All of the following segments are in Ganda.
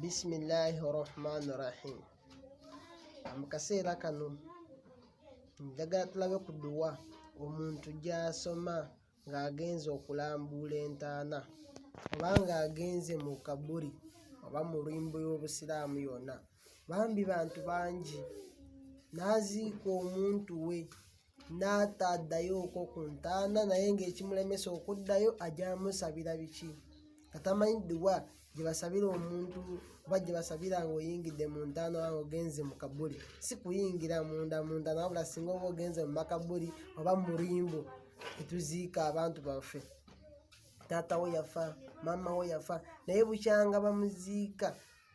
bisimilahi rahmani rahim mu kaseera kano njagala tulabe ku duwa omuntu gy'asoma ng'agenze okulambuula entaana oba ng'agenze mu kabuli oba mu lwimbo y'obusiraamu yonna bambi bantu bangi n'aziika omuntu we n'ata addayo okwo ku ntaana naye ng'ekimulemesa okuddayo ajja musabira biki nga tamanyi dduwa gye basabira omuntu oba gye basabira ng'oyingidde mu ntaana oba ng'ogenze mu kabuli si kuyingira munda mu ntaana wabula singa oba ogenze mu makabuli oba mu limbo etuziika abantu baffe taata wo yafa maama wo yafa naye bukyanga bamuziika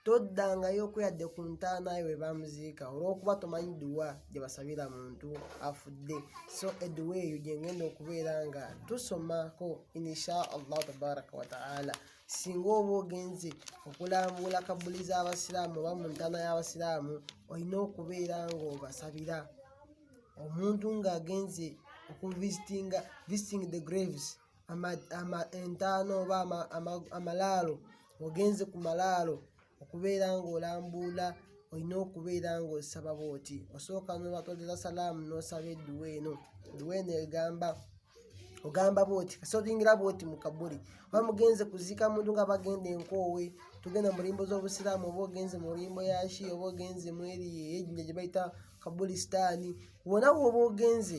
toddangayo ku yadde ku ntaana yo we bamuziika olw'okuba tomanyi dduwa gye basabira muntu afudde so edduwa eyo gye ngenda okubeera nga tusomako insha allahu tabaraka wataala singa oba ogenze okulambula kabbuli z'abasiraamu oba mu ntaana y'abasiraamu olina okubeera ng'obasabira omuntu ng'agenze okuvisitinga visiting the graves entaana oba amalaalo ogenze ku malaalo okubeera ng'olambuula olina okubeera ng'osaba bwoti osooka nobatolera salaamu n'osaba edduwa eno edduwa eno egamba ogamba bwoti kasotingira bwoti mu kabuli oba mugenze kuziika muntu nga bagenda enkoowe tugenda mu limbo z'obusiraamu oba ogenze mu limbo ya shi oba ogenze mu eri eyejinja gye bayita kabuli sitaani wona woba ogenze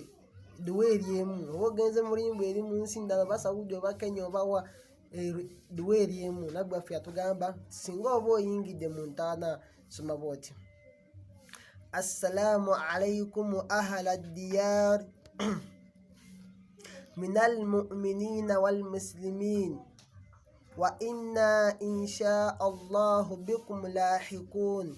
duwa eri emu oba ogenze mulimbu eri mu nsi ndala oba saudi oba kenya obawa duwa eri emu naggwaffe yatugamba singa oba oyingidde mu ntaana soma bwoti assalamu alaikum ahala diyar min almuminina walmuslimin wa inna insha allahu bikum lahikun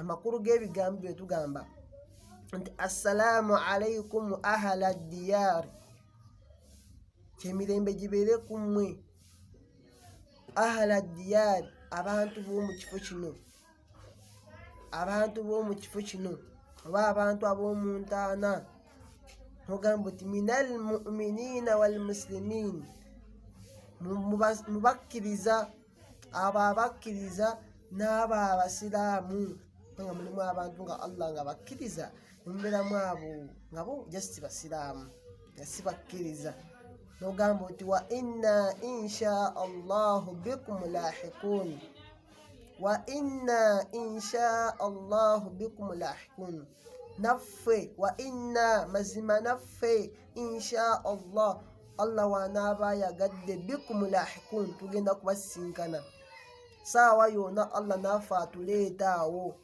amakulu g'ebigambo bye tugamba nti assalaamu alaikum ahala diyaari kyemirembe gibeere ku mmwe ahala diyaari abantu b'omu kifo kino abantu b'omu kifo kino oba abantu ab'omu ntaana ogamba nti minal muminina walmusilimin mubakkiriza abo abakkiriza n'abo abasiraamu nga mulimu abantu nga allah nga bakkiriza nemubeeramu abo nga bo just basiraamu nga si bakkiriza nogamba nti wa inna insha allahu bikum lahikun wa inna insha allahu bikum lahikun naffe wa inna mazima naffe insha allah allah wanaaba ayagadde bikumulahikun tugenda kubasisinkana saawa yona allah naffe atuleeta awo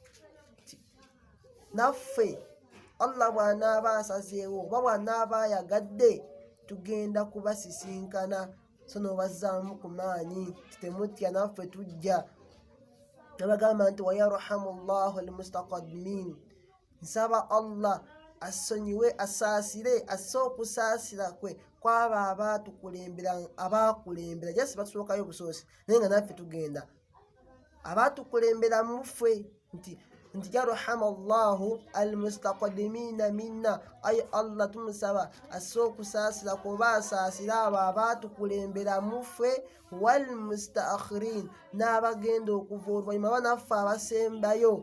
naffe allah bwanaaba asazeewo oba bwanaaba ayagadde tugenda kubasisinkana so nobazzaamu ku maanyi titemutya naffe tujja nabagamba nti wayarhamu llahu almustaqadimin nsaba allah assonyiwe asaasire asse okusaasira kwe kwabo abaatukulembera abaakulembera jasi batusookayo obusoosi naye nga naffe tugenda abaatukulembera muffe nti nti yarhama llahu almustakdimiina minna ayi allah tumusaba asse okusaasira kuba asaasire abo abaatukulembera muffe walmustakhirin n'abagenda okuva oluvanyuma banaffe abasembayo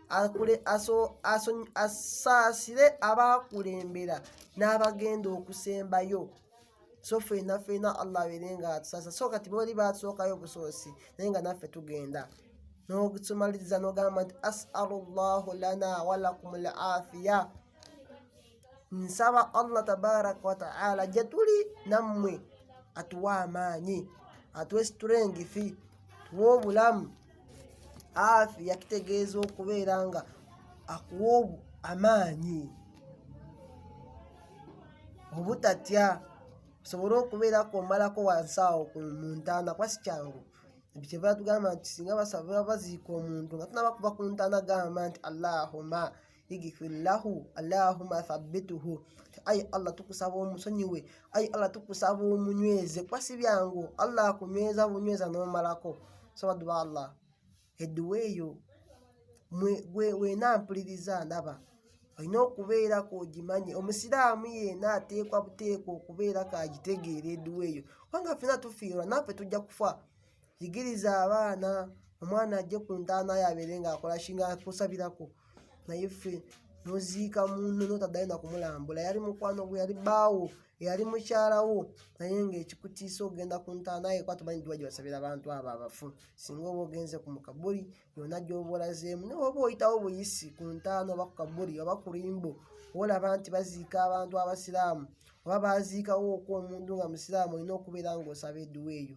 akule- aso- aso- asaasire abaakulembera n'abagenda okusembayo so fena fena allah abeere nga atusasa so kati booli batusookayo busoosi naye nga naffe tugenda n'okutumaliriza n'ogamba nti asalu llahu lana walakum lafiya nsaba allah tabaraka wataala gyetuli nammwe atuwa amaanyi atuwe siturengifi tuwe obulamu afi yakitegeeza okubeera nga akuwa amaanyi obutatya osobole okubeera kwomalako wansi awo mu ntaana kuba si kyangu nti kyeva tugamba nti singa basaba baziika omuntu nga tunabakuba ku ntaana gamba nti allahuma igifillahu allahuma thabituhu ayi allah tukusaba omusonyiwe ayi allah tukusaba omunyweze kuba si byangu allah akunyweza bunyweza nomalako saba duba allah edduwa eyo wena mpuliriza ndaba olina okubeera ku ogimanye omusiraamu yena ateekwa buteekwa okubeera kagitegeera edduwa eyo kubanga fena tufiirwa naffe tujja kufa yigiriza abaana omwana ajje ku ntaana yo abeere ng'akola kinga kusabirako naye ffe noziika munno notaddayo nakumulambula yali mukwano gwe yali baawo eyali mukyalawo naye ngaekikutiisa okugenda ku ntaana ye kuba tumanyi ddiwa gye basabira abantu abo abafu singa oba ogenze ku mukabuli yona gyoba olazeemu naye oba oyitawo buyisi ku ntaana oba ku kabuli oba ku limbo olaba nti baziika abantu abasiraamu oba baziikawo okw omuntu nga musiraamu olina okubeera ngaosaba edduwa eyo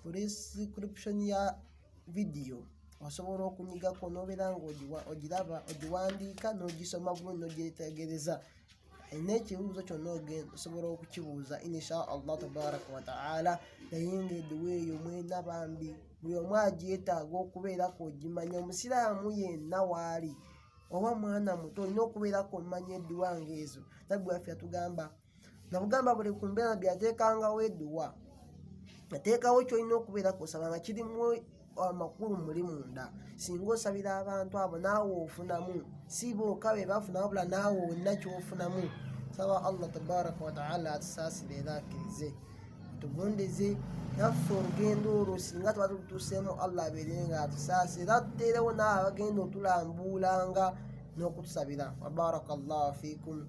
ku description ya vidiyo osobola okunyigako n'obeera ng'ogiraba ogiwandiika n'ogisoma bulungi n'ogyetegereza alina ekibuuzo kyonna ogenda osobola okukibuuza insha allah tabaraka wataala naye nga eduwa eyo mwena bambi buli omu agyetaaga okubeerako ogimanya omusiraamu yenna waali oba mwana muto olina okubeerako omanya eduwa ngaezo nabbi waffe yatugamba nga bugamba buli ku mbeera nabbi ateekangawo eduwa ateekawo kyolina okubeera kusaba nga kirimu amakulu muli munda singa osabira abantu abo naawe ofunamu si booka be bafuna wabula naawe olina kyofunamu saba allah tabaraka wataala atusaasire era akkirize tugondeze naffe olugendo olwo singa tuba tutuseemu allah abeere nga atusaasire era tuteerewo naawe abagenda otulambuulanga n'okutusabira wabaraka llahu fiikum